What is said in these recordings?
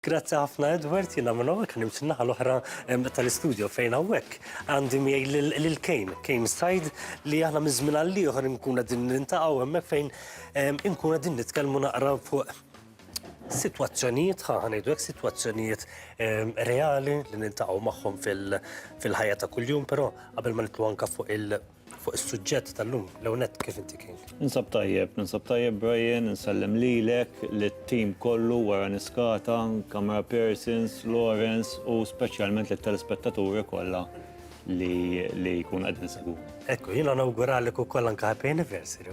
Grazzi ħafna Edward, jiena minn hawnhekk ħanimt in-naħa l-oħra tal-istudio fejn hawnhekk għandi miegħi lil Kane, Kane Said, li aħna minn żmien għal ieħor inkun qegħdin niltaqgħu hemmhekk fejn inkunu qegħdin nitkellmu naqra fuq sitwazzjonijiet, ħa ngħidu hekk, sitwazzjonijiet reali li niltaqgħu magħhom fil-ħajja ta' kuljum, però qabel ma nidħlu anke fuq il- Fuq is-suġġett tal-lum, l-ewwel nett kif inti King? Ninsab tajjeb, ninsab tajjeb Brian, insellem lilek, lit-tim kollu wara Niskata, camera persons, Lawrence u speċjalment lit-telespettaturi kollha li jkunu qegħdin isegwuna. Ekku, jiena nawguralek ukoll anke happy anniversary.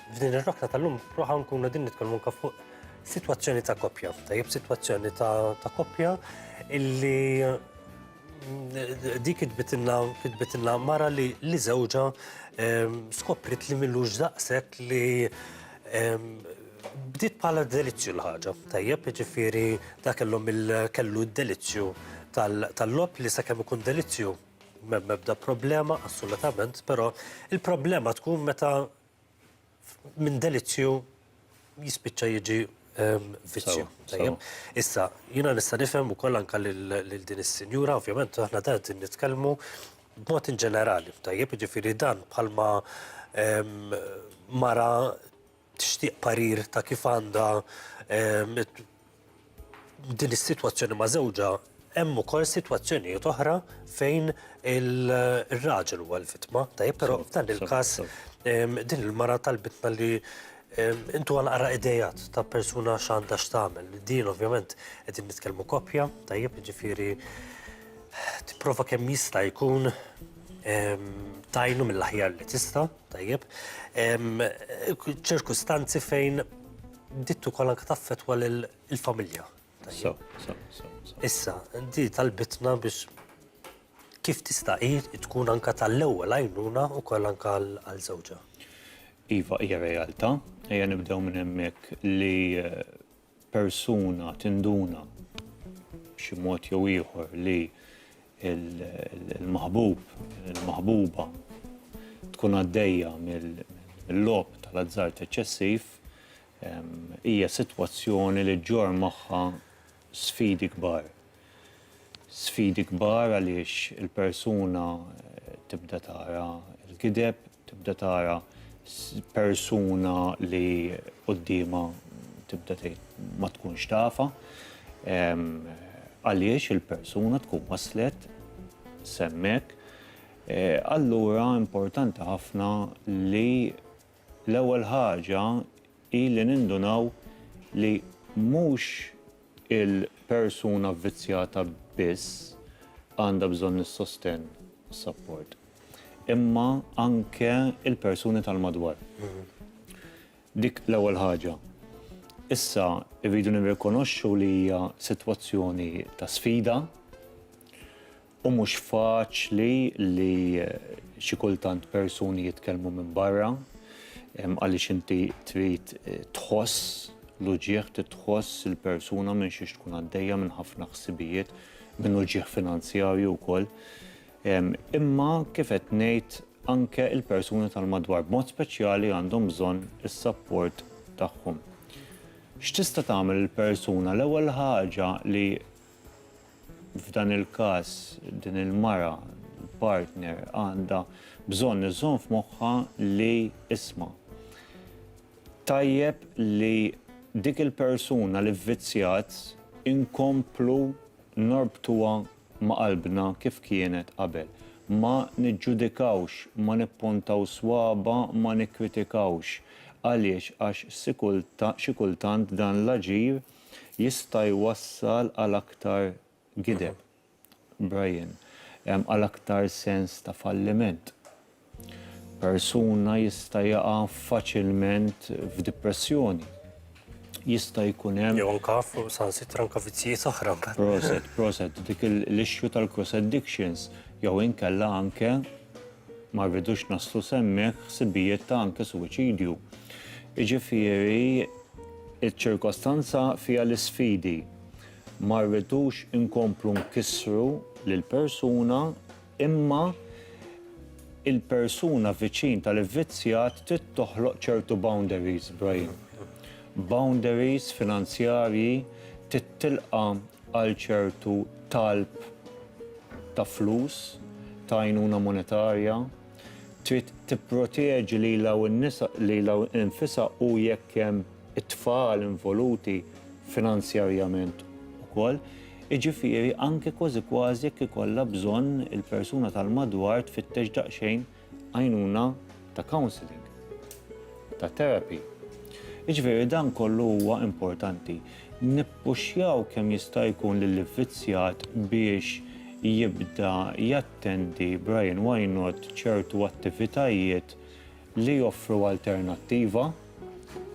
F'din ir-rokta tal-lum proħa nkunu din nitkellmu anke fuq sitwazzjoni ta' koppja, tajjeb sitwazzjoni ta' koppja illi mm, dik kitbitilna mara li li żewġa ehm, skoprit li millux daqshekk li ehm, bdiet bħala delizzju l-ħaġa. Tajjeb, ġifieri da kellhom kellu d-delizzju tal-lob li sakemm ikun delizzju mebda problema assolutament, però il-problema tkun meta minn delizzju jispiċċa jiġi ehm, vizzju. Issa, jina nista' nifhem ukoll anke lil din is-sinjura, ovvjament aħna dan qed nitkellmu b'mod in ġenerali, tajjeb, jiġifieri dan bħalma ehm, mara tixtieq parir ta' kif għandha ehm, din is-sitwazzjoni ma' żewġha hemm ukoll sitwazzjonijiet oħra fejn il-raġel huwa l-vittma, tajjeb, però f'dan il-każ din il-mara tal-bitna li intu għal qara idejat ta' persuna x'għandha x'tagħmel. Din ovvjament qegħdin nitkellmu koppja, tajjeb, ġifieri tipprova kemm jista' jkun tajnu mill-aħjar li tista', tajjeb, ċirkustanzi fejn Bdiet ukoll anke taffettwa lill-familja. So, so, so, so. Issa, di talbitna biex kif tista' hi tkun anke tal-ewwel għajnuna ukoll anke għal żewġha. Iva, hija realtà, ejja nibdew minn hemmhekk li eh, persuna tinduna b'xi mod jew ieħor li il-maħbub, il-maħbuba tkun għaddejja mill-logħob tal-azzard eċċessiv hija sitwazzjoni li ġġorr magħha sfidi kbar. Sfidi kbar għaliex il-persuna tibda tara l-gideb, Tibda tara persuna li quddiemha tibda tgħid ma tkunx tafha. Għaliex il-persuna tkun waslet s'hemmhekk. Allura importanti ħafna li l-ewwel ħaġa hi li nindunaw li mhux Il-persuna vvizzjata biss għandha bżonn is-sostenn u s-sapport, imma anke l-persuni tal-madwar. Dik l-ewwel ħaġa. Issa, irridu nirrikonoxxu li hija sitwazzjoni ta' sfida. U mhux faċli li xi kultant persuni jitkellmu minn barra għaliex inti trid tħoss l-uġigħ, trid tħoss il-persuna minn xiex tkun għaddejja, minn ħafna ħsibijiet, minn uġigħ finanzjarju wkoll. Imma kif qed ngħid anke l-persuni tal-madwar b'mod speċjali għandhom bżonn is-sapport tagħhom. X'tista' tagħmel il-persuna? L-ewwel ħaġa li F'dan il-każ, din il-mara, il-partner, għandha bżonn iżżomm f'moħħha li, isma', tajjeb li dik il-persuna li vvizzjat inkomplu norbtuha ma' qalbna kif kienet qabel. Ma niġġudikawx, ma nippuntaw swaba', ma nikkritikawx. Għaliex? Għax xi kultant dan l-aġir jista' jwassal għal aktar gideb, Brian, għal aktar sens ta' falliment. Persuna jista' jaqa' faċilment f'dipressjoni. Jista' jkun hemm. Jew anke u saħansitra anke vizzjijiet oħra mbagħad. Proset, proset, dik l-issue tal-cross addictions jew inkella anke ma rridux naslu s'hemmhekk ħsibijiet ta' anke suwiċidju. Jiġifieri Iċ-ċirkostanza fiha l-isfidi. Ma rridux inkomplu nkissru lill-persuna imma il-persuna viċin tal-ivvizzjat trid toħloq ċertu boundaries, Brahim. Boundaries finanzjarji, trid tilqa' għal ċertu talb ta' flus, ta' għajnuna monetarja. trid tipproteġi lilha u n-nisa lilha nfisha u jekk hemm it-tfal involuti finanzjarjament ukoll. Jiġifieri anke kważi kważi jekk ikollha bżonn il-persuna tal-madwar tfittex daqsxejn għajnuna ta' counselling, ta' therapy. Jiġifieri dan kollu huwa importanti. Nippuxjaw kemm jista' jkun lill-ivvizzjat biex jibda Jattendi Brian Wynot ċertu attivitajiet li joffru alternattiva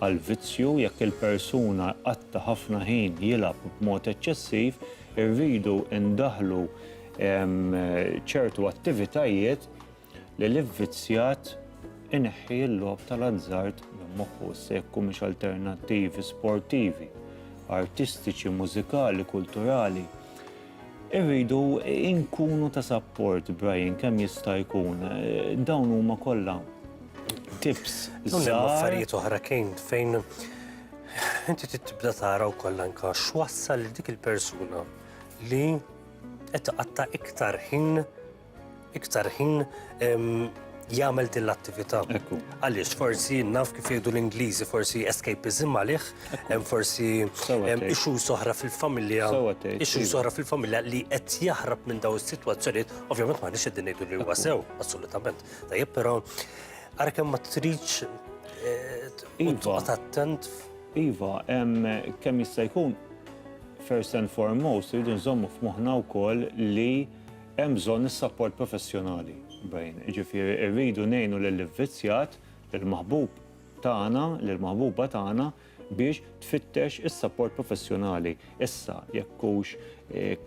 għall-vizzju, jekk il-persuna jqatta' ħafna ħin jilgħab b'mod eċċessiv, irridu ndaħħlu ċertu attivitajiet li l-ivvizzjat ineħħi l-logħob tal-azzard minn moħħu, issa jekk humiex alternattivi sportivi, artistiċi, mużikali, kulturali. Irridu nkunu ta' sapport, Brian, kemm jista' jkun. Dawn huma kollha tips żgħar. Dawn hemm affarijiet oħra kien fejn inti trid tibda tara wkoll anke x'wassal lil dik il-persuna li qed tqatta' iktar ħin iktar ħin jagħmel din l-attività. Għaliex forsi naf kif jgħidu l-Ingliżi, forsi escapism għalih, forsi ixu soħra fil-familja, ixu soħra fil-familja li qed jaħrab minn daw is-sitwazzjonijiet, ovvjament ma nix qegħdin ngħidu li huwa sew, assolutament. Tajjeb però ara kemm ma tridx eh, iva. attent. Iva, kemm jista' jkun first and foremost, rridu nżommu f'moħħna wkoll li Hemm bżonn is-sapport professjonali, Brian. Jiġifieri rridu ngħinu lill-ivvizzjat, lill-maħbub tagħna, lill-maħbuba tagħna biex tfittex is-sapport professjonali. Issa, jekk hux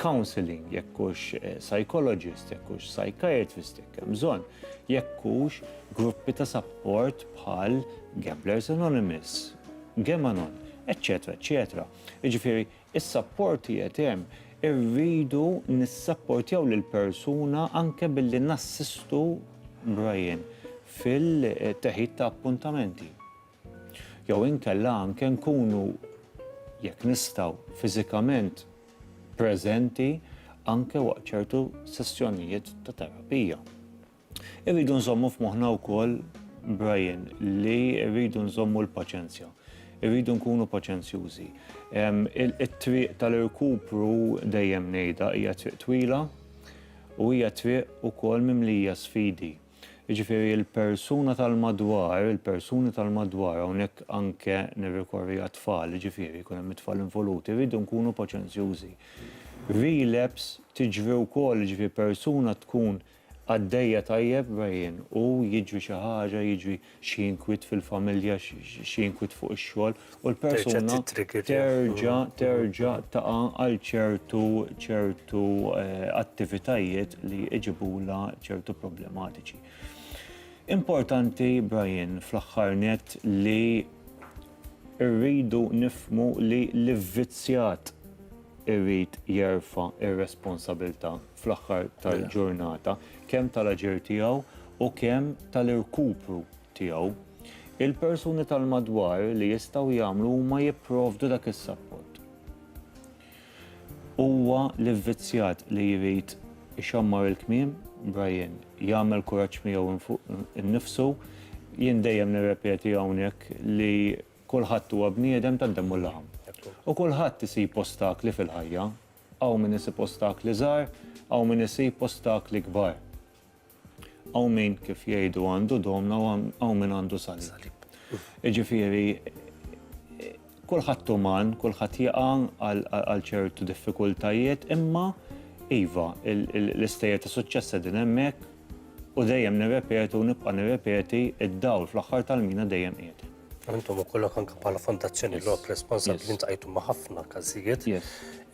counselling, jekk hux psychologist, jekk hux psychiatrist, jekk hemm bżonn, jekk hux gruppi ta' sapport bħal Gamblers Anonymous, Gamanon, eċċetera, eċċetera. Jiġifieri Is-sapporti qed hemm. Irridu nissapportjaw lill-persuna anke billi nassistu Brian fil-teħid ta' appuntamenti. Jew inkella anke nkunu, jekk nistgħu, fiżikament preżenti anke waqt ċertu sessjonijiet ta' terapija. Irridu nżommu f'moħħna wkoll, Brian, li rridu nżommu l-paċenzja. Irridu nkunu paċenzjużi. It-triq tal-irkupru dejjem ngħidha hija triq twila u hija triq ukoll mimlija sfidi. Jiġifieri l-persuna tal-madwar, il-persuni tal-madwar, hawnhekk anke nirrikorri għat-tfal, jiġifieri jkun hemm it-tfal involuti, irridu nkunu paċenzjużi. Relapse tiġri wkoll, jiġifieri persuna tkun Għaddejja tajjeb Brian, u jiġri xi ħaġa, jiġri xi inkwiet fil-familja, xi inkwiet fuq ix-xogħol, u l-persuna terġa' terġa' taqa' għal ċertu ċertu attivitajiet li iġibulha ċertu problematiċi. Importanti Brian fl-aħħar nett li rridu nifhmu li l-ivvizzjat irid jerfa' r-responsabilità fl-aħħar tal-ġurnata, kemm tal-aġir tiegħu u kemm tal-irkupru tiegħu. Il-persuni tal-madwar li jistgħu jagħmlu huma jipprovdu dak is-sapport. Huwa l-ivvizzjat li jrid ixammar il-kmiem, Brian, jagħmel kuraġġ miegħu fuq innifsu. Jien dejjem nirrepeti hawnhekk li kulħadd huwa bniedem tad-demm u l-laħam. U kulħadd isib ostakli fil-ħajja, Hawn min isib ostakli żgħar, hawn min isib ostakli kbar. Hawn min, kif jgħidu, għandu domna u hawn min għandu salib. Jiġifieri, kulħadd uman, kulħadd jaqa' għal ċertu diffikultajiet, imma iva, l-istejjer ta' suċċess qegħdin hemmhekk u dejjem nirrepetu u nibqa' nirrepeti d-dawl fl-aħħar tal-mina dejjem qiegħed. Intom u kollok anka bħala fondazzjoni l għok responsabli yes. intajtu ma' ħafna kazijiet yes.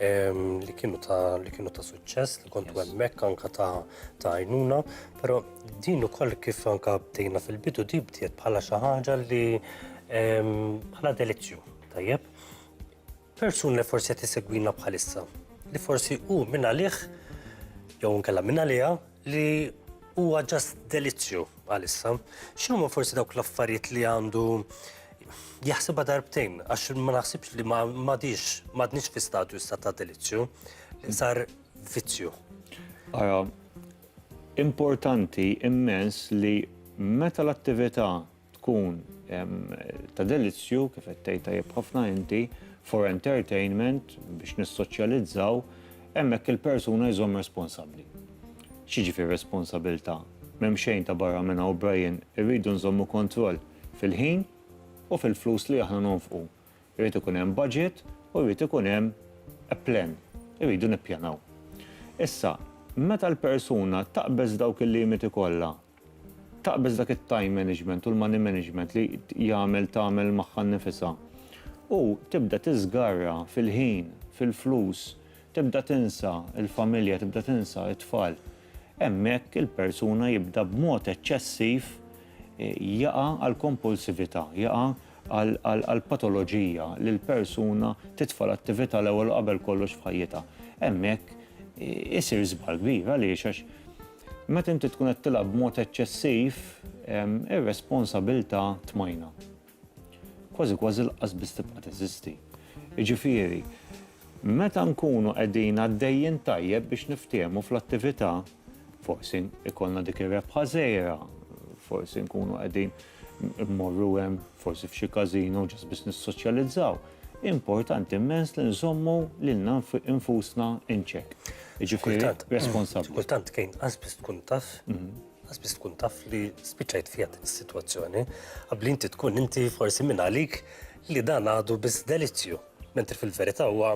um, li kienu ta' li kienu ta' suċċess li kontu yes. mekk anka ta' ta' għajnuna, pero din ukoll kif anka bdejna fil-bidu di bdiet bħala xi ħaġa li bħala um, delizzju, tajjeb. Persun li forsi qed isegwina bħalissa, li forsi u minn għalih jew nkella minn għaliha li huwa ġast delizzju għalissa. X'inhuma forsi dawk l-affarijiet li għandu jaħsibha darbtejn għax ma naħsibx li ma m'għadix m'għadniex fi stadju issa ta' delizzju li sar vizzju. Ara, importanti immens li meta l-attività tkun ta' delizzju, kif qed tgħid tajjeb ħafna inti, for entertainment, biex nissoċjalizzaw, hemmhekk il-persuna jżomm responsabbli. X'jiġifieri responsabilità? M'hemm xejn ta' barra minn hawn Brian, irridu nżommu kontroll fil-ħin u fil-flus li aħna nonfqu. Irid ikun hemm budget u jrid ikun hemm a plan, irridu nippjanaw. Issa, meta l-persuna taqbeż dawk il-limiti kollha taqbeż dak it-time management u l-money management li jagħmel tagħmel magħha nnifisha u tibda tiżgarra fil-ħin, fil-flus, tibda tinsa l-familja, tibda tinsa t-tfal, hemmhekk il-persuna jibda b'mod eċċessiv jaqa' għall-kompulsività, jaqa' għall-patoloġija li l-persuna titfa' l-attività l-ewwel u qabel kollox f'ħajjitha. Hemmhekk isir żball kbir għaliex għax Meta inti tkun qed tilgħab b'mod eċċessiv, ir-responsabilta' tmajna. Kważi kważi lanqas biss tibqa' teżisti. Jiġifieri, meta nkunu qegħdin għaddejjin tajjeb biex niftiehmu fl-attivita', forsi ikollna dik ir-rebħa żgħira, forsi nkunu qegħdin. immorru hemm, forsi f'xi każino ġast biex nissoċjalizzaw, importanti immens li nżommu lilna nfusna in check. Jiġifieri responsabbli. Xi kultant kien qas biss tkun taf, qas biss tkun taf li spiċċajt fiha din is-sitwazzjoni, qabli inti tkun inti forsi minn għalik li dan għadu biss delizzju, mentri fil-verità huwa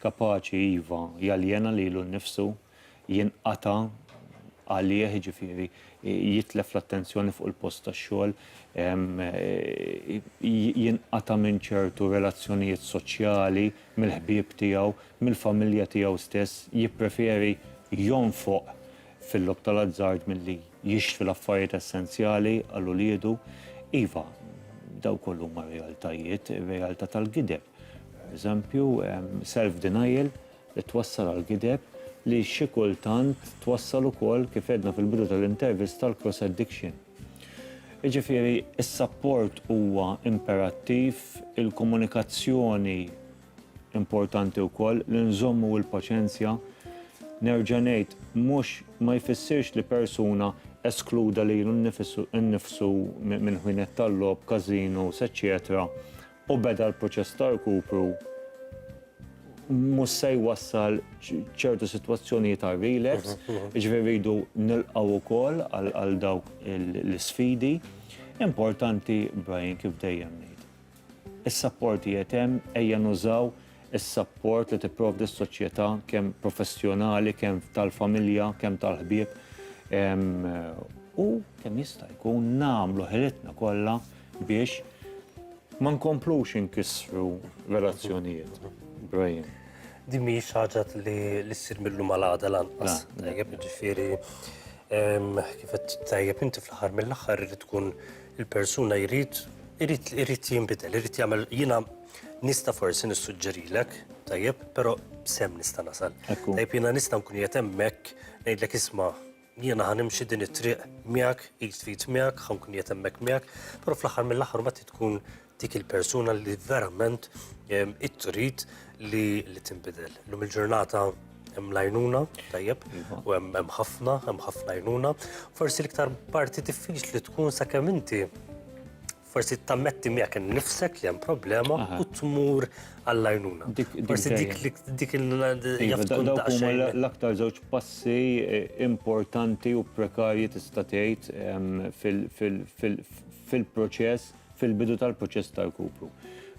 Kapaċi, iva, jaljena lilu nnifsu, jinqata' għalih, jiġifieri jitlef l-attenzjoni fuq il-post tax-xogħol, jinqata' minn ċertu relazzjonijiet soċjali, mill-ħbieb tiegħu, mill-familja tiegħu stess, jippreferi jonfoq fil-logħob tal-azzard milli jixtri l-affarijiet essenzjali għal uliedu. Iva, dawk kollha huma realtajiet, ir-realtà tal-gideb. Eżempju, self-denial li twassal għall-gideb li xi kultant twassal ukoll, kif għedna fil-bidu tal-intervista, għal cross addiction. Jiġifieri, is-sapport huwa imperattiv, il-komunikazzjoni importanti wkoll, li nżommu il-paċenzja. Nerġa' ngħid, mhux, ma jfissirx li persuna eskluda lilu nnifsu minn ħwienet tal-logħob, każinos, eċċetera u beda l-proċess ta' rkupru mhux se jwassal ċertu sitwazzjonijiet għal relapse, jiġifieri rridu nilqgħu wkoll għal dawk l-isfidi. Importanti, Brian, kif dejjem ngħid, is-sapport qiegħed hemm, ejja nużaw is-sapport li tipprovdi s-soċjetà kemm professjonali, kemm tal-familja, kemm tal-ħbieb u kemm jista' jkun nagħmlu ħilitna kollha biex ma nkomplux inkissru relazzjonijiet. Brian. Din mhijiex ħaġa li ssir mill-lum għal għada lanqas. Tajjeb, ġifieri kif qed tajjeb inti fl-aħħar mill-aħħar irid tkun il-persuna jrid irid jinbidel, irid jagħmel jiena Nista' forsi nissuġġerilek, tajjeb, però b'sehem nista' nasal. Tajjeb jiena nista' nkun qiegħed hemmhekk ngħidlek isma' jiena ħa nimxi din it-triq miegħek, id f'id miegħek, ħa nkun qiegħed hemmhekk miegħek, però fl-aħħar mill-aħħar mbagħad trid tkun dik il-persuna li verament trid li tinbidel. Illum il-ġurnata hemm l-għajnuna, tajjeb, u hemm ħafna, hemm ħafna għajnuna. Forsi l-iktar parti diffiċli tkun sakemm inti Forsi tammetti miegħek innifsek li hemm problema u tmur għall-għajnuna. Forsi dik dik il-għajnuna. L-aktar żewġ passi importanti u prekarji tista' tgħid fil-proċess, fil-bidu tal-proċess ta' rkupru.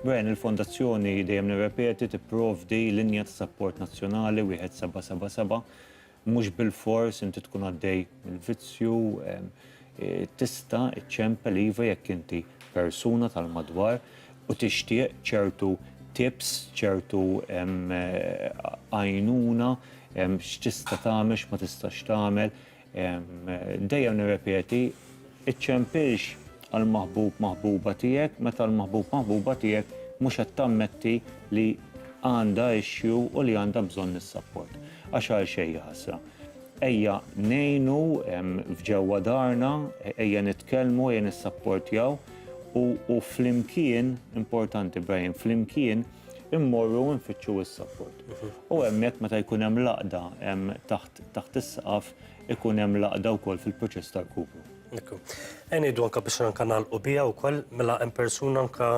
Brian, il-Fondazzjoni dejjem nirrepeti tipprovdi linja ta' sapport nazzjonali 1777 Mhux bilfors inti tkun għaddej minn vizzju, tista' ċċempel iva jekk inti persuna tal-madwar u tixtieq ċertu tips, ċertu għajnuna, x'tista' tagħmel, x'ma tistax tagħmel. Dejjem nirrepeti, Iċċempilx għall-maħbub, maħbuba tiegħek meta l-maħbub, maħbuba tiegħek mhux qed tammetti li għandha issue u li għandha bżonn is-sapport. Għax għal xejn hi ħasra. Ejja ngħinu f'ġewwa darna, ejja nitkellmu, ejja nissapportjaw u u flimkien, importanti Brian, flimkien immorru nfittxu s-sapport. U hemmhekk meta jkun hemm l-għaqda taħt is-saqaf ikun hemm l-għaqda wkoll fil-proċess ta' rkupru. Ekku. Qed ngħidu anke biex anke nagħlqu biha wkoll mela hemm persuna anke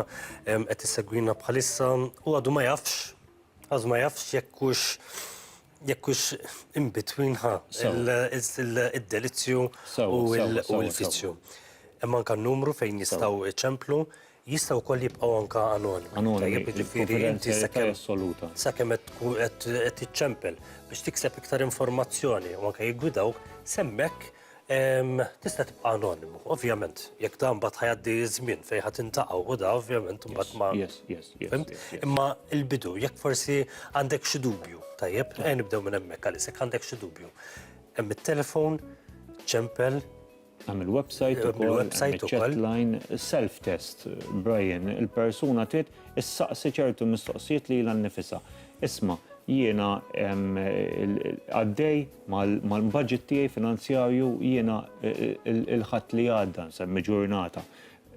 qed issegwina bħalissa u għadu ma jafx, għadu ma jafx jekk hux jekk hux in between ħa id-delizzju u l-fizzju. Hemm anke numru fejn jistgħu iċemplu Jistgħu wkoll jibqgħu anke anonimi. Anonimi, il-kunfidenzjalità assoluta. Sakemm qed tkun qed tiċċempel biex tikseb iktar informazzjoni u anke jiggwidawk, s'hemmhekk tista' tibqa' anonimu. Ovvjament, jekk dan mbagħad ħajgħaddi ż-żmien fejn ħa tintaqgħu u da ovvjament imbagħad ma. Yes, yes, yes. Fimt? Imma l-bidu, jekk forsi għandek xi dubju, tajjeb, ejja nibdew minn hemmhekk għaliex jekk għandek xi dubju. Hemm it-telefon, ċempel, Hemm il-website ukoll, hemm iċ-chatline, self-test, Brian, il-persuna trid issaqsi ċertu mistoqsijiet lilha nnifisha. Isma', jiena għaddej mal-budget tiegħi finanzjarju, jiena l-Ħadd li għadda, nsemmi ġurnata,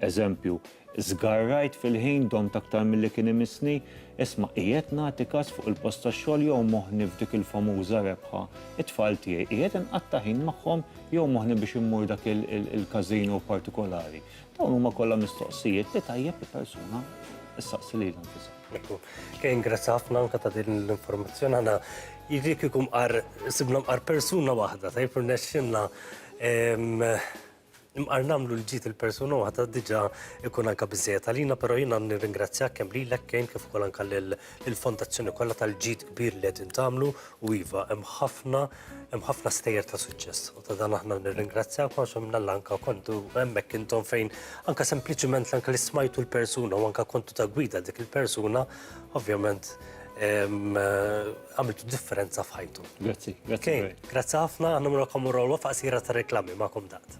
Eżempju, Żgarrajt fil-ħin, domt aktar milli kien imissni, isma' qiegħed nagħti każ fuq il-post tax-xogħol jew moħħni f'dik il-famuża rebħa, it-tfal tiegħi qiegħed inqatta' ħin magħhom jew moħħni biex immur dak il-każino partikolari. Dawn huma kollha mistoqsijiet li tajjeb li persuna ssaqsi lilha nfisha. Ekku, kien grazzi ħafna anke ta' din l-informazzjoni għana jidri kieku mqar sibna mqar persuna waħda, tajb rnexxinna Imqar nagħmlu li ġiet il-persuna waħda diġà ikun anke biżejjed għalina, però jiena nirringrazzjak kemm lilek kejn kif ukoll anke lill-fondazzjoni kollha tal-ġid kbir li qegħdin tagħmlu u iva hemm ħafna hemm ħafna stejjer ta' suċċess u ta' dan aħna nirringrazzjak għax minnalla anke kontu hemmhekk intom fejn anke sempliċiment anke li smajtu l-persuna u anke kontu ta' gwida dik il-persuna ovvjament għamilt differenza f'ħajtu. Grazzi, grazzi. Grazzi ħafna, għanna murakom u rowa faqsira ta' reklami ma'kom dat.